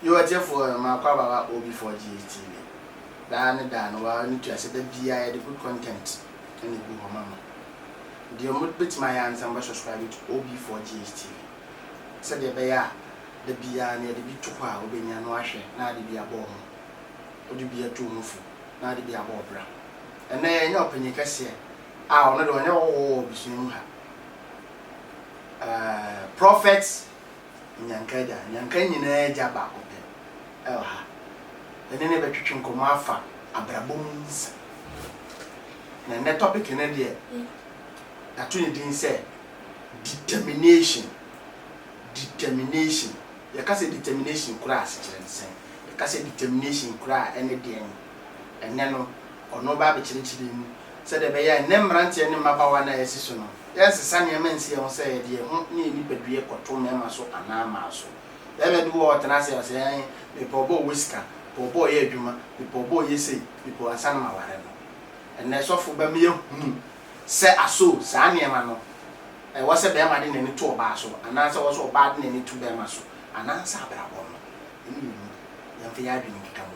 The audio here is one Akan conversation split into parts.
Yo ɔtiɛfoɔ ɛ ma kɔ abawa OB4GH TV daa ne daa no wa ne tua sɛ da biaa yɛ de good content ɛna ɛgu hɔ ma mo deɛ mo bɛtumi ayɛ ane sɛ mo bɛ subscribe to OB4GH TV sɛdeɛ ɛbɛyɛ a da biaa no yɛ de bi to hɔ a wo bɛ nya na wa hwɛ na ade bi abɔ wo ho wo de bi atu wo ho fo na ade bi abɔ wo bra ɛnɛ yɛ nya ɔpanyin kɛseɛ a ɔno deɛ ɔnyɛ ɔwɔ wɔ abusua mu ha ɛɛ prophet Nyanka Agya, Nyanka nyinaa Agya baako pɛ wɔ ha. Yɛne no bɛtwetwe nkɔmmɔ afa abrabɔ mu nsɛm. Na nnɛ topic no deɛ, yɛato ne din sɛ Determination. Determination. Yɛka sɛ determination kura a, asekyerɛ ne sɛn? Yɛka sɛ determination kura a, ɛne deɛn? Ɛnnɛ no, ɔno bɛabɛkyerɛkyerɛ mu Sɛdeɛ ɛbɛyɛ a nnɛ mmeranteɛ ne mmabaawa no a yɛasi so no, yɛrensesa nneɛma nsi yɛn ho sɛ yɛde yɛn ho ne yɛn nipadua kɔto mmarima so anaa mmaa so. Barima bi wɔ hɔ a ɔtena ase a ɔse, Ae, mepɛ ɔba a ɔwɔ sika, mepɛ ɔba a ɔyɛ adwuma, mepɛ ɔba a ɔyɛ sei, mepɛ ansa na maware no. Ɛnnɛ sɔfo ba me ahunu sɛ aso saa nneɛma no, ɛwɔ sɛ barima de n'ani to ɔbaa so anaa sɛ ɛwɔ sɛ ɔbaa de n'ani to barima so anaa sɛ abrabɔ no, ɛne yɛn mu, yɛmfa yɛn adwene nkeka mu.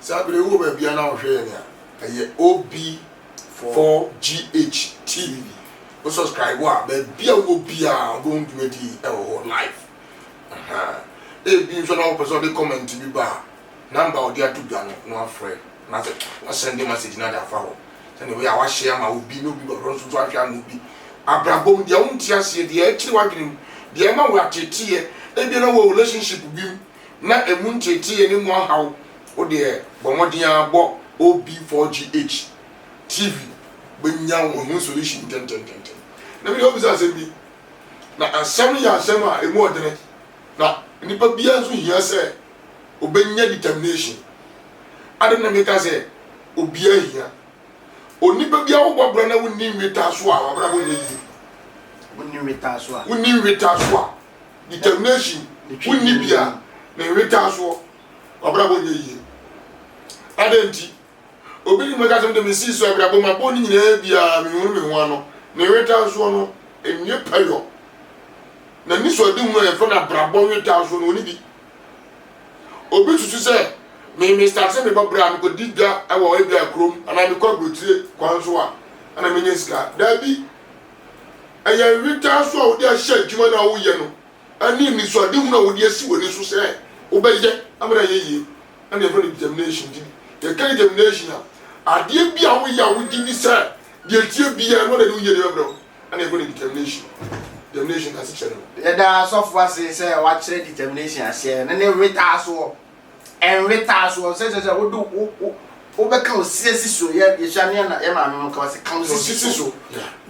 Saa bere yi wowɔ baabi a na wohwɛ yɛn a, ɛyɛ OB4GH TV. Wo subscribe a, baabi a wowɔ biara wobɛhu dwumadi yi wɔ hɔ live. Ahaa. Ebi nso na wopɛ sɛ ɔde comment bi ba a, number a ɔde ato dwa no na wafrɛ na sɛ wasɛnde message no de afa hɔ. Sɛnea ɛbɛyɛ a wahyɛ ama obi na obi bɔdɔ nso so ahwɛ ama obi. Abrabɔ mu, deɛ wonte aseɛ, deɛ ɛkyere w'adwene mu, deɛ ɛma wo ateeteeɛ, ebia na wowɔ relationship bi mu, na ɛmu nteeteeɛ ne mu ahaw wo deɛ, bɔ mmɔden ara bɔ OB4GH TV bɛnya wo ho solution ntɛntɛntɛntɛm. Na me deɛ wobisa asɛm bi, na asɛm no yɛ asɛm a ɛmu ɔdene, na nipa biara nso hia sɛ ɔbɛnya determination. Adɛn na meka sɛ obiara hia? Onipa biara wobɔ bra na wonni nwetaa so a, w'abrabɔ nyɛ yie. Wonni nwetaa so a. Wonni nwetaa so a, determination wo nni bi a, ne nwetaa soɔ, w'abrabɔ nyɛ yie. Adɛn nti? Obi ne mu ɛka sɛ me deɛ me sii so abrabɔ mu abɔ ne nyinaa biara me hunu me ho ano. Ne nwetaa soɔ no ɛnyɛ pɛ yɔ. Na ni so adi hunu a yɛfrɛ no abrabɔ nwetaa soɔ no ɔni bi. Obi susu sɛ me me start sɛ me bɔ bra me kɔ di dwa ɛwɔ ebi a kurom anaa me kɔ aburokyire kwan so a ɛna me nya sika. Daabi. Ɛyɛ nwetaa so a wode ahyɛ adwuma no a woreyɛ no ne anisoadehunu a wode asi w'ani so sɛ wobɛyɛ ama no ayɛ yie na yɛfrɛ no determination. Nti yɛka determination a, adeɛ bi a woyɛ a wogye di sɛ deɛ ɛteɛ biara no wode de wo yiedie bɛbrɛ ho na yɛfrɛ no determination. Determination asekyerɛ ne no. Yɛda asɔfoɔ ase sɛ wɔakyerɛ determination aseɛ no ne nwetaa soɔ Ɛnwetaa so, ɔnsɛ sɛ wode wo wo wo wobɛka osie si so. Yɛ yɛhyia ne yɛ na yɛ maame mo ka ɔsɛ ka osi si so.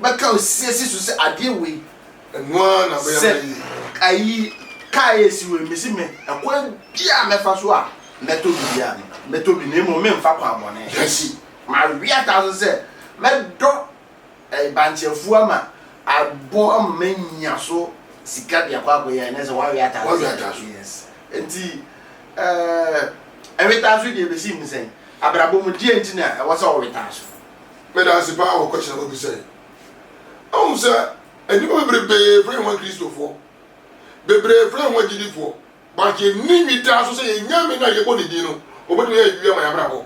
Wobɛka osie si so sɛ adeɛ wei. Ɛno ara na bɛyɛ ma yie. Sɛ ayi kaa esi wei mesi me ɛkwan bi a mɛfa so a mɛtɔ biribi a mɛtɔ bi na mmom menfa kwan bɔne nsi. Mawea taa so sɛ mɛdɔ. Bankyɛfua ama abɔ ama manya so sika de akɔ akɔyɛ a, ɛnɛ sɛ wɔawe ataaso. Wɔawe ataaso. Yes. Nti eh, ɛwe taaso deɛ ɛbɛsi ne sɛn? Abrabɔ mu, deɛ nti na ɛwɔ sɛ wɔwe taaso? Meda ase paa wɔ question a wabisa yi. Wohu sɛ nnipa bebrebe frɛ wɔn Kristofoɔ, bebree frɛ wɔn agyidifoɔ, But yɛnni nwi daa so sɛ yɛn Nyame no a yɛbɔ ne din no, ɔbɛtumi ayɛ biribi ama yɛn abrabɔ.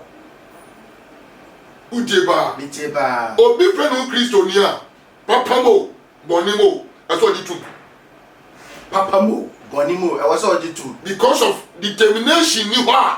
Wotie paa? Metie paa. Obi frɛ ne ho Kristoni a, papa mu o, bɔne mu o, ɛsɛ ɔgye tom. Papa mu o, bɔne mu o, ɛwɔ sɛ ɔgye tom. Because of determination nni hɔ a.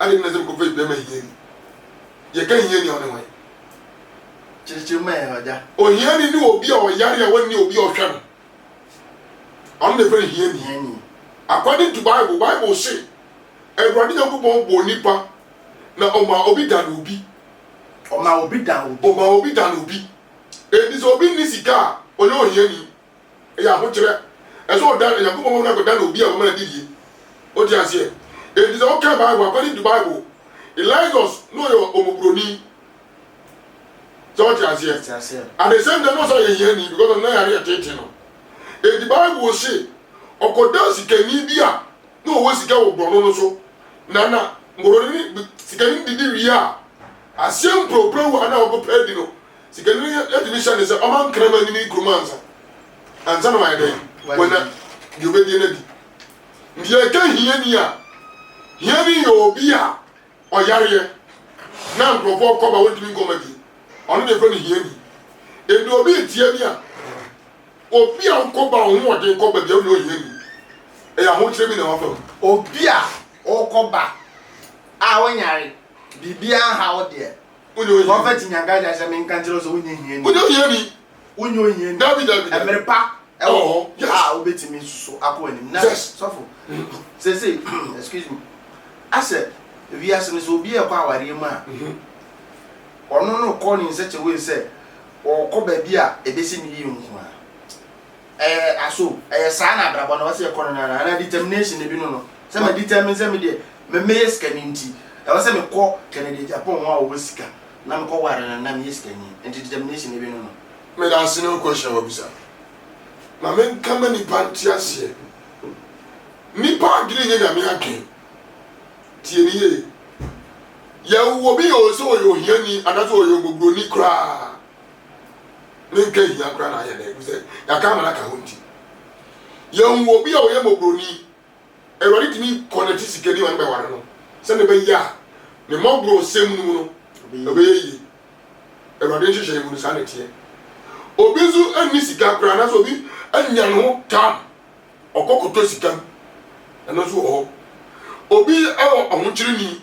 Adɛn nti na ɛsɛ sɛ mekɔfa aduan ma hiani? Yɛka hiani a, ɔne hwan? Kyerɛkyerɛ mu ma yɛn, Ɔgya. Ohiani ne obi a ɔyare a ɔnni obi a ɔhwɛ no. Ɔno na yɛfrɛ no hiani. Hiani. According to Bible, Bible se, Awurade Nyankopɔn bɔɔ nnipa, na ɔmaa obi dan obi. Ɔmaa obi dan obi. Ɔmaa obi dan obi. Enti sɛ obi nni sika a, ɔyɛ ohiani. Ɛyɛ ahokyerɛ. Ɛsɛ sɛ ɔdan Onyankopɔn mmɔbɔ no akɔda no obi a ɔbɛma no adidie. Wote aseɛ? Enti sɛ wokan Bible, according to Bible, Elijus na ɔyɛ ɔmɔborɔni. Sɛ wote aseɛ? At the same time, na ɔsɛ ɔyɛ hiani because ɔno na yare yɛ tete no. Enti Bible se, ɔkɔdaa sikani bi a na ɔwɔ sika wɔ borɔno no so, na na borɔno no, sikani no didi wie a, aseɛ mprɛwprɛw a na ɔkɔpɛ adi no, Sikanini no tumi hyɛ no sɛ ɔma nkraman nni ne kurom ansa ansa na wayɛ dɛn? Wanya deɛ ɔbɛdie no adi. Nti yɛka hiani a, hiani yɛ obi a ɔyareɛ na nkurɔfoɔ kɔba wɔntumi nkɔ ma die. Ɔno deɛ yɛfrɛ no hiani. Ɛnti obi ntia bi a, obi a ɔkɔba ɔho ɔden kɔba bia wonyɛ ɔhiani. Ɛyɛ ahokyerɛ bi na wafa mu. Obi a ɔkɔba a ɔnyare, biribiara nha wo deɛ, Wonyɛ ohiani. Prɔfɛt Nyangae de ahyɛ me nka nkyerɛ wo sɛ wonyɛ hiani. Wonyɛ ohiani. Wonyɛ ohiani. Dabi dabi dabi. Mmere pa wɔ hɔ Yes. a wobetumi nso akɔ anim. Na Yes. sɔfo, seesei, excuse me, asɛ wiase no sɛ obi rekɔ awareɛ mu a, ɔno no rekɔ no in such a way sɛ ɔrekɔ baabi a ebesi no yie nko ara. Ɛyɛ aso ɛyɛ saa na abrabɔ no ɛwɔsɛ yɛkɔ no no anaa anaa determination na ebinom no sɛ ma determine sɛ me deɛ me mɛyɛ sikani nti ɛwɔsɛ me kɔ Kennedy Agyapong ho a ɔwɔ sika na me kɔ ware no na meyɛ sikani nti determination na ebinom no. Medase ne wo question a wabisa no. Ma me nka ma nipa nte aseɛ. Nipa adwene nyɛ Nyame adwen. Tie me yie. Yɛwo obi oo sɛ ɔyɛ ohiani anaasɛ ɔyɛ ɔmɔboroni koraa. ne nka hia koraa na ayɛ dɛ ɛfiri sɛ yɛaka amana ka ho nti yɛhu obi a ɔyɛ mmɔborɔni awurade tumi kɔnɛte sikani ma no bɛware no sɛne bɛyɛ a ne mmɔborɔ nsɛm no mu no ɛbɛyɛ yie awurade nhyehyɛ mu no saa na ɛteɛ obi nso anni sika koraa anaasɛ obi anya ne ho tam ɔkɔkɔtɔ sika mu ɛno nso wɔ hɔ obi wɔ ahokyerɛ ni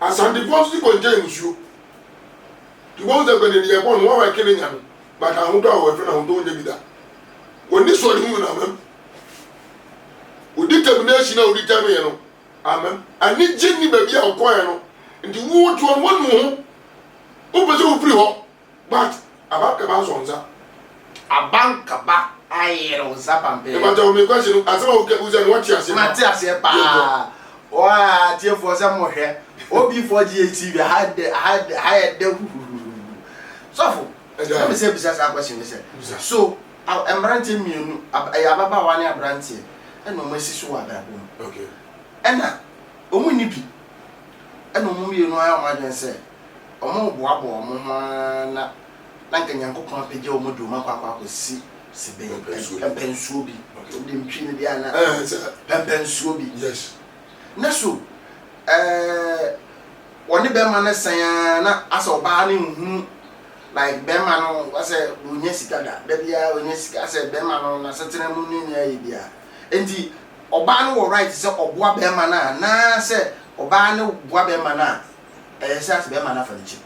Asantefoɔ nso si kɔntɛn nsuo. Nti wobɛhu sɛ nkɔnɛniyɛ bɔn no, wɔn a wɔke ne nya no, but ahodɔ a wɔhwɛ no, ahodɔ nnya bi da. Wɔni soɔ ne ho nyina amam. Wodi termination a wodi term yɛ no amam. Anigye nni baabi a wɔkɔɔɛ no. Nti wo toɔ no, wɔnu wo ho. Wopɛ sɛ wofiri hɔ. But aba kaba asɔ nsa. Aba nkaba ayerew nsa pampee. Mepakyɛw me question no asɛm a woka gu sɛ no wate aseɛ paa. Mate aseɛ paa. Ɔɔaa atiefoɔ sɛ mo hwɛ OB4GHTV aha dɛ aha dɛ aha yɛ dɛ huhuhuhu. Sɔfo, na me sɛ bisa saa question no sɛ, so a mmeranteɛ mmienu ab ɛyɛ ababaawa ne aberanteɛ ɛna wɔn asi so wɔ abrabɔ mu. Okay. Ɛna wɔn nni bi ɛna wɔn mmienu ayɛ wɔn adwene sɛ. wɔreboaboa wɔn ho ara na na anka Nyankopɔn apagya wɔn de wɔn akɔ akɔ akɔsi si bɛn Pɛmpɛnsuo bi. pɛmpɛnsuo bi Okay. wode ntwi no deɛ ana Eh, sɛ, pɛmpɛnsuo bi yes. na so ɛɛ wɔne bɛrima no sɛn ara na asɛ ɔbaa no nhunu like bɛrima no asɛ ɔnya sika da da biara ɔnya sika asɛ bɛrima no n'asetena mu ne nea ayɛ biara enti ɔbaa no wɔ right sɛ ɔboa bɛrima no a anaasɛ ɔbaa no boa bɛrima no a ɛyɛ sɛ ase bɛrima no afa ne kyɛ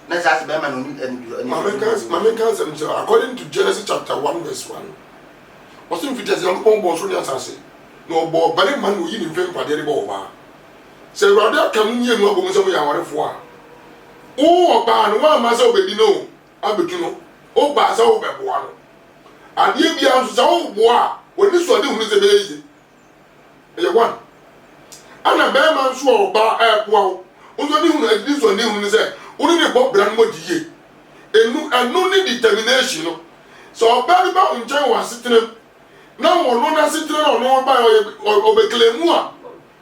na ɛsɛ ase bɛrima na ɔne ɛne bi ɛne maame nka maame nka nsɛm nkyerɛ according to Genesis chapter one verse one ɔsɛ mfiti ase Nyankopɔn bɔɔ soro ne asase na ɔbɔɔ barima na ɔyi ne mfɛn mpadeɛ de bɔ ɔbaa sɛ awurade aka mo mmienu abɔ mu sɛ moyɛ awarefoɔ a wo ɔbaa no woamma sɛ wobɛdi no o abɛtu no wobaa sɛ wobɛboa no adeɛ biara nso sɛ woboa a w'ani so ade hunu sɛ bɛyɛ yie Ɛyɛ one. Ɛna bɛɛma nso a ɔbaa ɛɛboa wo nso ne hunu ɛde ne nso ne hunu ne sɛ wo ne ne bɔ bra no mɔdi yie. Ɛnu ɛno ne determination no. Sɛ ɔbaa bi ba wo nkyɛn wɔ asetenam na ɔno n'asetena no a ɔno ɔba yɛ ɔyɛ ɔbɛklɛmu a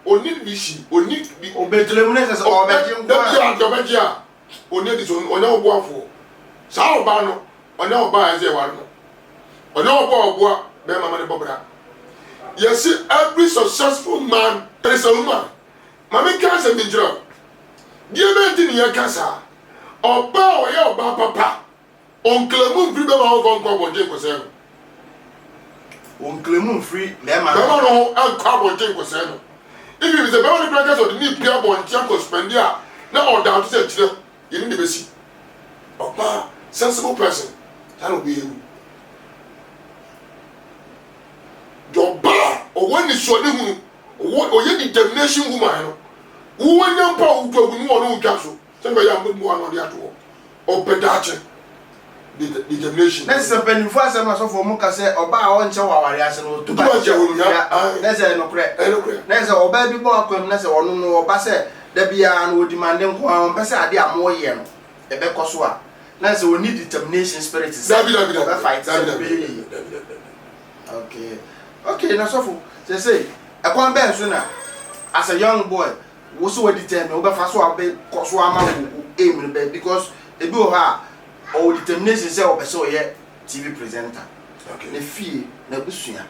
ɔni bishi ɔni bi. Ɔbɛklɛmu ne sɛ sɛ ɔbɛgye nko a. Dabi a deɛ ɔbɛgye a Ɔnni adi sɛ ɔnyɛ wo boafoɔ. Saa ɔbaa no, ɔnyɛ ɔbaa a ɛsɛ sɛ yɛware no. Ɔnyɛ ɔbaa a ɔboa barima ma no bɔ bra. Yɛse every successful man is a woman. Ma menka asɛm bi nkyerɛ wo. Deɛbɛn nti ne yɛka saa? Ɔbaa a ɔyɛ ɔbaa papa Wɔn Nklɛmu mfiri bɛma no nkɔ abɔnten nkɔsɛe no. Wɔn Nklɛmu mfiri bɛma no. Bɛma no nkɔ abɔnten nkɔsɛe no. Ibi mi sɛ bɛma no kura kɛ sɛ ɔde ne pie abɔnten akɔ spɛnde a na ɔda ɔte sɛ kyerɛ yɛ ne ne bɛsi. Ɔbaa sensible person saa na ɔbɛyɛ wu. Deɛ ɔbaa ɔwɔ anisua ne hunu ɔwɔ ɔyɛ determination woman no wowɔ nya mpo a wotu agu ne wɔ ne wotwa so. Sɛ ɛbɛyɛ a wobɛboa no ɔde ato hɔ ɔpɛ daakye determination. Na ɛsɛ sɛ mpanyimfo asɛm na asɔfo a wɔka sɛ ɔbaa a ɔnkyɛ wɔ aware ase no to ba hyɛ wɔn dua, na ɛsɛ sɛ ɛyɛ nokorɛ. Na ɛsɛ sɛ ɔbaa bi bɔ akwam na sɛ ɔno no ɔba sɛ da biara no ɔdimande nko ara, ɔmpɛ sɛ ade a moreyɛ no ɛbɛkɔ so a, na ɛsɛ sɛ ɔnni determination spirit sɛ ɔbɛ fight sɛ ɛbɛyɛ yie. Okay, okay, na sɔfo, seesei ɛkwan bɛn so na as a young boy, Wo so wadetermine wobɛfa so a wobɛ kɔso ama wo aim bɛ because ebi wɔ hɔ a ɔwɔ determination sɛ ɔpɛ sɛ ɔyɛ TV presenter okay. ne fie na abusua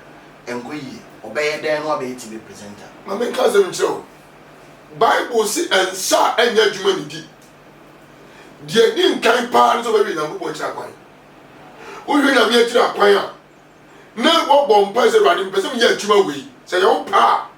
ɛnkɔ yie ɔbɛyɛ dɛn no abɛyɛ TV presenter. Ma me nka asɛm nkyerɛ wo Bible se nsa a ɛnyɛ adwuma ne di deɛ ɛdi nkan paa ne sɛ ɔbɛhwɛ Nyankopɔn akyiri akwan wohwɛ Nyame akyiri akwan a na wɔbɔ mpa sɛ Awurade mpɛ sɛ meyɛ adwuma wei sɛ yɛwo paa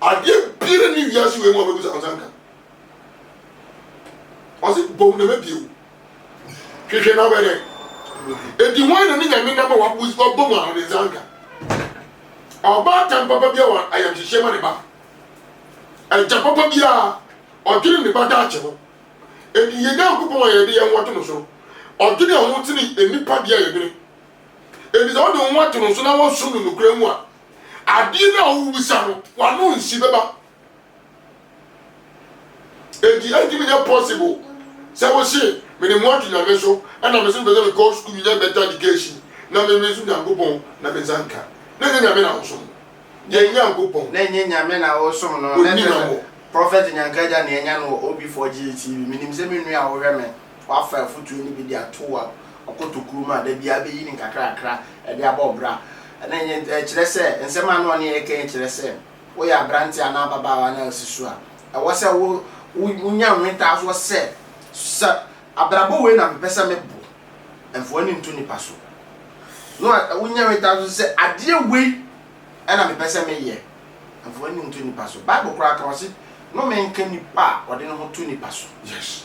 Adeɛ biara nni wiase wei mu a wobɛbisa wo nsa nka. Ɔse bom na mɛbie wo. Hwehwɛ na wobɛdɛ. Enti hwan na ne nyame nam a wabɔ mu a ɔde nsa nka? Ɔbaatan papa bi a wɔ ayamhyehyeɛ ma ne ba. Agya papa biara ɔdwene ne ba daakye ho. Enti yɛn Nyankopɔn a yɛde yɛn ho ato no so no, ɔdwene ho sene nnipa deɛ a yɛdwene. Enti sɛ wode wo ho ato no so na wosom no nokorɛ mu a, Adeɛ no a wobisa no wano nsi bɛba. Enti ɛntumi nyɛ possible sɛ wose mede mo ato Nyame so ɛna mese mepɛ sɛ mekɔ sukuu menya better education na me me nso Nyankopɔn na me nsa nka. Na ɛnyɛ Nyame na wosom no. Yɛn Nyankopɔn. Na ɛnyɛ Nyame na wosom no. Ɔnni hwammɔ. Prophet Nyanka Agya nea anya no wɔ OB4GA TV. Menim sɛ me nua a wohwɛ me Wɔafa afotu no bi de ato wɔ ɔkɔ tokuru mu a da biara beyi no nkakrakra de abɔ wo bra. Ɛno nyɛ nti, ɛkyerɛ sɛ nsɛm a na ɔne yɛn reka yi kyerɛ sɛ woyɛ aberante anaa ababaawa no a asi so a, ɛwɔ sɛ wo, wunya nwetaasoɔ sɛ, Sɛ abrabɔ wei na mepɛ sɛ me bo, mfa w'ani nto nnipa so. No, wunya nwetaasoɔ nso sɛ, Adeɛ wei na mepɛ sɛ meyɛ, mfa w'ani nto nnipa so. Bible koraa ka, ɔse, Nnome nka nipa a ɔde ne ho to nnipa so. Yes.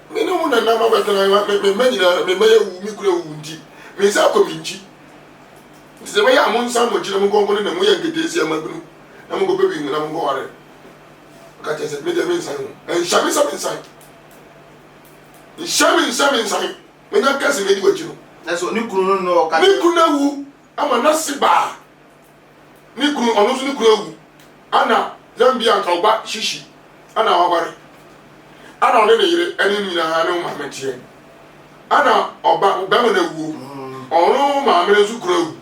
Me ne wo na nam abɛtena yɛn me me mma nyinaa na me mma yɛwu me kura wu nti me nsa akɔ me nkyi nti sɛ bɛyɛ a mo nsa mo nkyi na mo nkɔnkɔ ne na mo yɛ nketeesia ma bunu na mo nkɔ bɛ bi na mo nkɔ ware ɔka kyɛ sɛ me deɛ me nsan ho nhyɛ me nsa me nsan nhyɛ me nsa me nsan me nya kɛse me di wakyi no ne kunu no ɔka ne kunu awu Ama n'ase baa ne kunu ɔno nso ne kunu awu ana Zambia anka wo ba Shishi ana waware ana ɔne ne yere ɛne ne nyinaa ne wo maame teɛ ana ɔba bɛma no awuo ɔno wo maame no nso kunu awu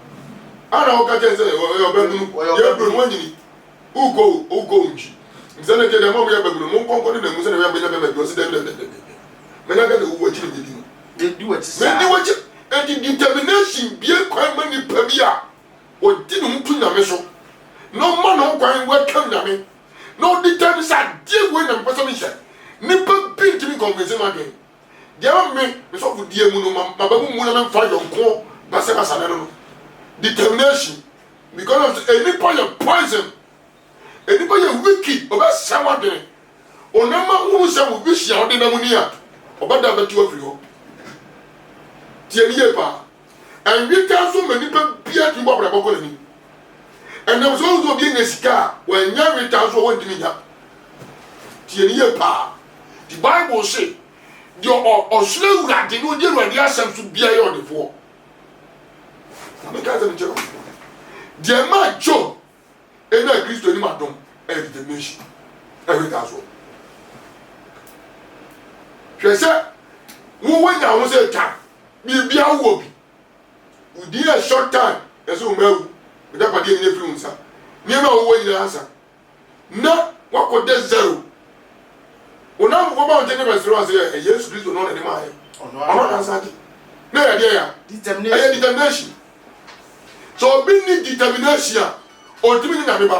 ana woka kyɛn sɛ ɔyɛ ɔbɛnunu yɛ bro no wanyini wokɔ wokɔ nkyi nti sɛ na gye dɛ mɔmo yɛ bɛnunu mo nkɔnkɔ ne na mu sɛ na yɛ bɛnya bɛma bi ɔsi dɛbi dɛbi dɛbi mɛnya gana wuo akyi ne bɛdi no Mendi w'akyi saa. Mendi w'akyi. Enti determination bue kwan ma nipa bi a ɔde ne ho to Nyame so, na ɔma ne ho kwan welcome Nyame, na ɔdetermine sɛ adeɛ wei na mepɛ sɛ mehyɛ. Nipa bi ntumi nconvince m'adwen. Deɛ ɛwɔ me me sɔfodie mu no, maba mu mu na memfa yɔnkoɔ basabasa no no. Determination. Because of sɛ nnipa yɛ poison. Nnipa yɛ wicked, wɔbɛsɛe w'adwene. Ɔnam ahunu sɛ wo vision a wode nam ni a, ɔbɛdan bɛte wo afiri hɔ. Tie no yie paa. Ɛnweka nso ma nipa biara tumi bɔ abrabɔ kɔ n'anim. Ɛnam sɛ wohu sɛ obi anya sika a, wanya nweta nso a wɔntumi nya. Tie no yie paa. Nti Bible se, deɛ ɔsoro Awurade na ɔdi Awurade asɛm so biara yɛ ɔdefoɔ. Na meka asɛm nkyerɛ wo. Deɛ ɛmaa Job Ebia Kristo anim adom yɛ determination ɛretaa soɔ. Hwɛ sɛ wo wanya ho sɛ twa biribia wowɔ bi. Wo din yɛ short time na sɛ wo mma awu, w'agyapadeɛ nyina firi wo nsa. Nneɛma a wowɔ nyina asa na wakɔ dɛ zero. Wo namfofoɔ ba wo nkyɛn ne bɛsere wo ase ɛ Yesu Kristo no na de maa yɛ. Ɔno na nsa agye. Na ɛyɛ deɛ ya? Ɛyɛ determination. Sɛ obi nni determination a, ontumi nyɛ Nyame ba.